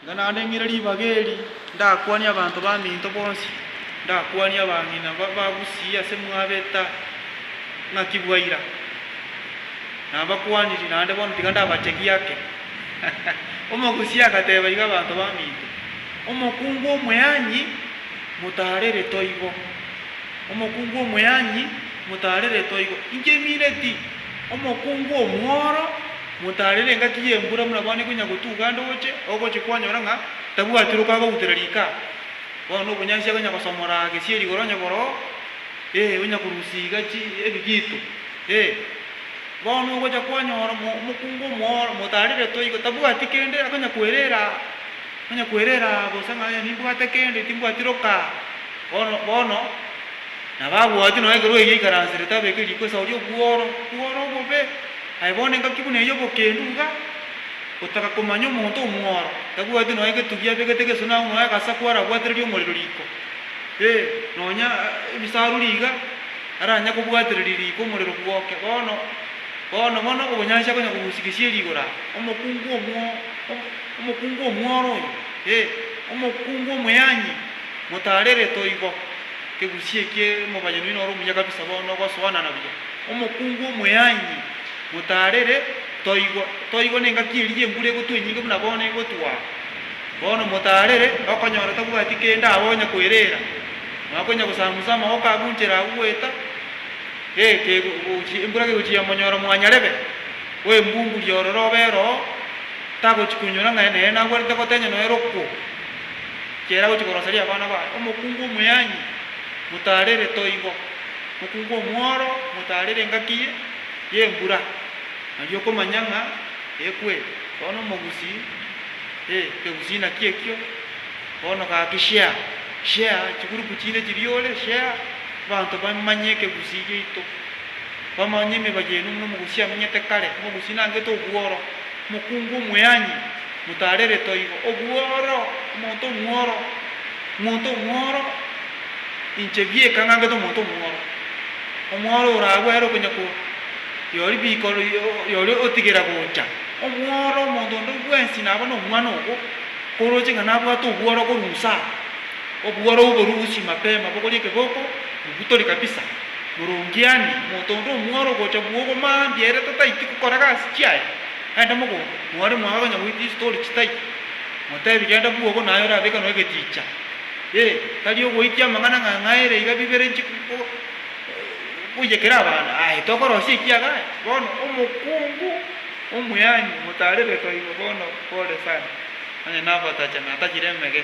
Inga naende ng'ire ribaga eri, ndakwanie abanto baminto bonsi, ndakwanie abang'ina babagusii ase mwabeta ng'aki bwa ira. Nabakwaniri, naende bono tiga ndabachegi ake. Omogusii agateba iga abanto baminto, Omokungu omweanyi motarere toigo, omokungu omweanyi motarere toigo, inche mineti omokungu omworo. Motaarere engaki y'embura buna bono ekonya gotuga ande oche, ogochia kwanyora ng'a tabwatire okagautera rika. Bono obonyansi akonya gosomora gesieri igoro onye boroo, ee, onya korusia iga chi ebigito, ee. Bono ogocha kwanyora omo omokungu omooro motaareretwe igo tabwati kende akonya kwerera, onya kwerera bosa ng'a ee nimbwate kende timbwati roka. Bono bono nabo abwati nonye ekero erio aikaransete tabeke riko esao ri'obworo, obworo obobe. Aye bono engaki buna eyio obokendu iga gotaka komanya omonto omworo tabwati nonya egetugi abegete gesuna agwo nonya agasa kwarabwatereria omorero riko, ee, nonya ebisaruri iga aranya kobwatereria riko omorero bwoke. Bono, bono, bono obonyansi akonya kogusia gesieri igoro aa, omokungu omwo, omokungu omworo oyo, ee, omokungu omoyanyi, motaarere toigo, ekegusia ekie omobani oino noro omuya kabisa bono ogosoa nana buya. Omokungu omoyaanyi, motaarere, Toigo, toigo nengaki eria y'embura egotwa enyinge buna bono egotwa. Bono motaarere, okonyora tabwati kende abe onya kwereera, nonya konya gosamusa amagoka agunchera agwo goeta, ee, kegochia, embura kegochia monyora mwanyarebe bw'embunguria ororo obe eroo, tagochi konyora ng'a nere nagwenerete gotenya nonya rokwo, ekiagera agochia koroseria abana baye. Omokungu omoyaanyi, motaarere, Toigo. Mokung'u omworo motaarere engaki y'embura, nari okomanya ng'a ekwe, bono omogusi e kegusina ki'ekio, bono gaki share, share chigurupu chinde chiria ore, share abanto bamanye ekegusi giaito, bamanye emeba yaino buna omogusi amenyete kare, omogusi nangete obworo. Mokungu omweanyi, motaarere toigo, obworo, omonto omworo, omonto omworo, inche bieka ng'angete omonto omworo, omworo oragwe ere okonya ko, yori biko, yori otigera gocha, omworo, omonto onde bwensi naba nomwana ogo, korooche ng'a nabwate obworo korwa inse aa, Obworou borwo gochia mapema bogoria ekegoko, mobutori kabisa. Morongiani, omonto onde omworo ogocha bwogo maa mbuya ere tataiti gokora gasi chiaye, genda mogondo. Mwari mwaye okonya goita istori chitaito, motebi genda bwogo naye orabeke noe egeticha. Ee, tari ogoitia amang'ana ng'a ng'a ere iga bibere nchi goiya kera abande. Aye, tokorosia ekiaga aye. Bono omokungu omuyaani omotaarebe toigo bono pore sana, onye nabatacha natachire emege.